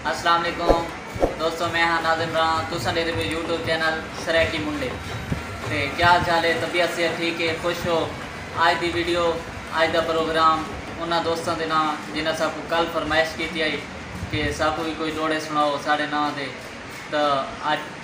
السلام علیکم دوستو میں ہاں ناظم رہا تساں دے میرے یوٹیوب چینل سریٹی منڈے تے کیا حال چال ہے طبیعت سے ٹھیک ہے خوش ہو آج دی ویڈیو آج دا پروگرام انہاں دوستاں دے نام جنہاں سب کو کل فرمائش کیتی آئی کہ سب کو بھی کوئی جوڑے سناؤ ساڑے نام دے تو آج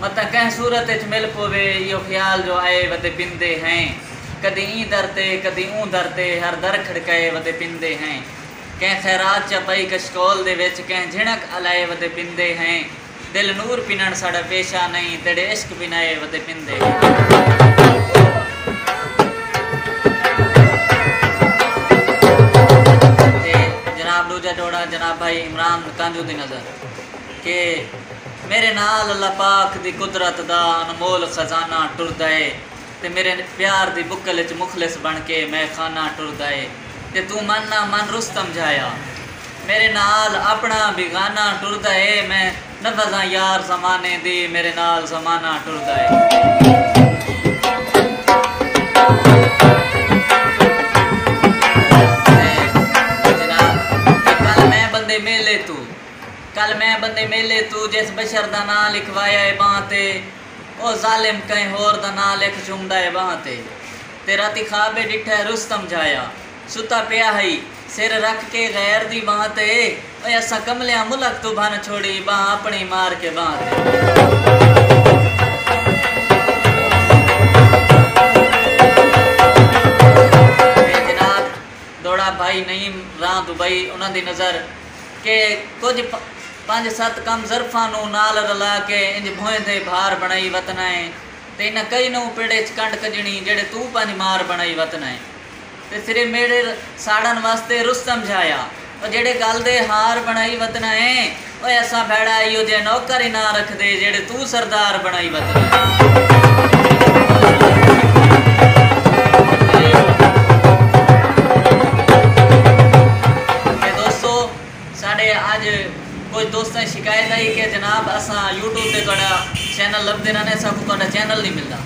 متاں کہیں صورت اچ مل پووے ایہو خیال جو آئے ودے پندے ہیں کدی ایں در تے کدی اوں در تے ہر در کھڑکائے ودے پندے ہیں کہیں خیرات چا پائی کشکول دے وچ کہیں جھنک الائے ودے پندے ہیں دل نور پنݨ ساݙا پیشہ نئیں تیݙے عشق بنائے ودے پندے ہیں۔ تے جناب ݙوجھا جوڑا جناب بھائی عمران کانجو دی نظر کہ۔ میڈے نال اللہ پاک دی قدرت دا انمول خزانہ ٹردا اے تے میڈے پیار دی بکل اچ مخلص بن کے میں خانہ ٹردا اے تے توں من نہ من رستم جھایا میڈے نال اپنا بی گانہ ٹردا اے میں نبھزاں یار زمانے دی میڈے نال زمانہ ٹردا اے۔ کل میں بندے میلے توں جس بشر دا ناں لکھوایا اے بانہہ تے او ظالم کہیں ہور دا ناں لکھ چھومدا اے بانہہ تے تے راتی خواب اے ڈٹھا اے رستم جھایا ستا پیا ہئی سر رکھ کے غیر دی بانہہ تے اوئے اساں کملیاں ملک توں بھن چھوڑی بانہہ اپنڑی مار کے بانہہ تے۔ اے جناب دوڑا بھائی نعیم راں دبئی انہاں دی نظر۔ کہ کجھ پنج ست کم ظرفاں نوں نال رلا کے انج بھوئیں دے بھار بنڑائی وتنائیں تے انہاں کئی نوں پیڑھے اچ کنڈ کجنڑیں جیڑھے توں پنج مار بنڑائی وتنائیں تے سرے میڑھے ساڑن واسطے رس سمجھایا او جیڑھے گل دے ہار بنڑائی وتنائیں او ایسا بھیڑا ایہو جیہے نوکر ہی نہ رکھدے جیڑھے توں کوں سردار بݨائی وتنی دوستو ساڈے اج کچھ دوستاں شکایت آئی کہ جناب اساں یوٹیوب تے تہاڈا چینل لبھدے رہنے اساں کوں تہاڈا چینل نہیں ملدا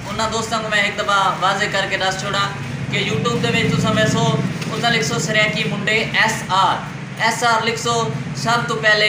انہاں دوستاں کوں میں ہک دفعہ واضح کر کے دس چھوڑاں کہ یوٹیوب دے وچ تساں ویسو اتھاں لکھسو سرائیکی منڈے ایس آر ایس آر لکھسو سب تو پہلے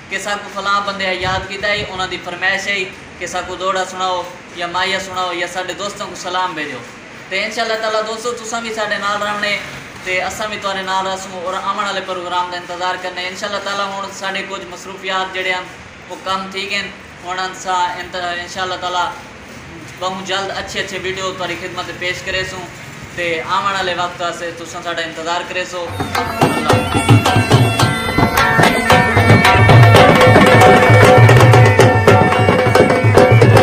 کہ ساکوں فلاں بندے ہا یاد کیتا ہئی انہاں دی فرمائش ہئی کہ ساکوں دوہڑا سنڑاؤ یا مائیہ سنڑاؤ یا ساڈے دوستاں کوں سلام بھیجو تے انشاء اللہ تعالی دوستو تساں وی ساڈے نال رہونے تے اساں وی تہاڈے نال رہسوں اور آون آلے پروگرام دا انتظار کرنے انشاء اللہ تعالی ہن ساڈے کجھ مصروفیات جیہڑے ہن او کم تھی گن ہن انساں انشاء اللہ تعالی ٻہوں جلد اچھے اچھے ویڈیوز تہاݙی خدمت اچ پیش کریسوں تے آوݨ آلے وقت واسطے تساں ساݙا انتظار کریسو اللہ حافظ۔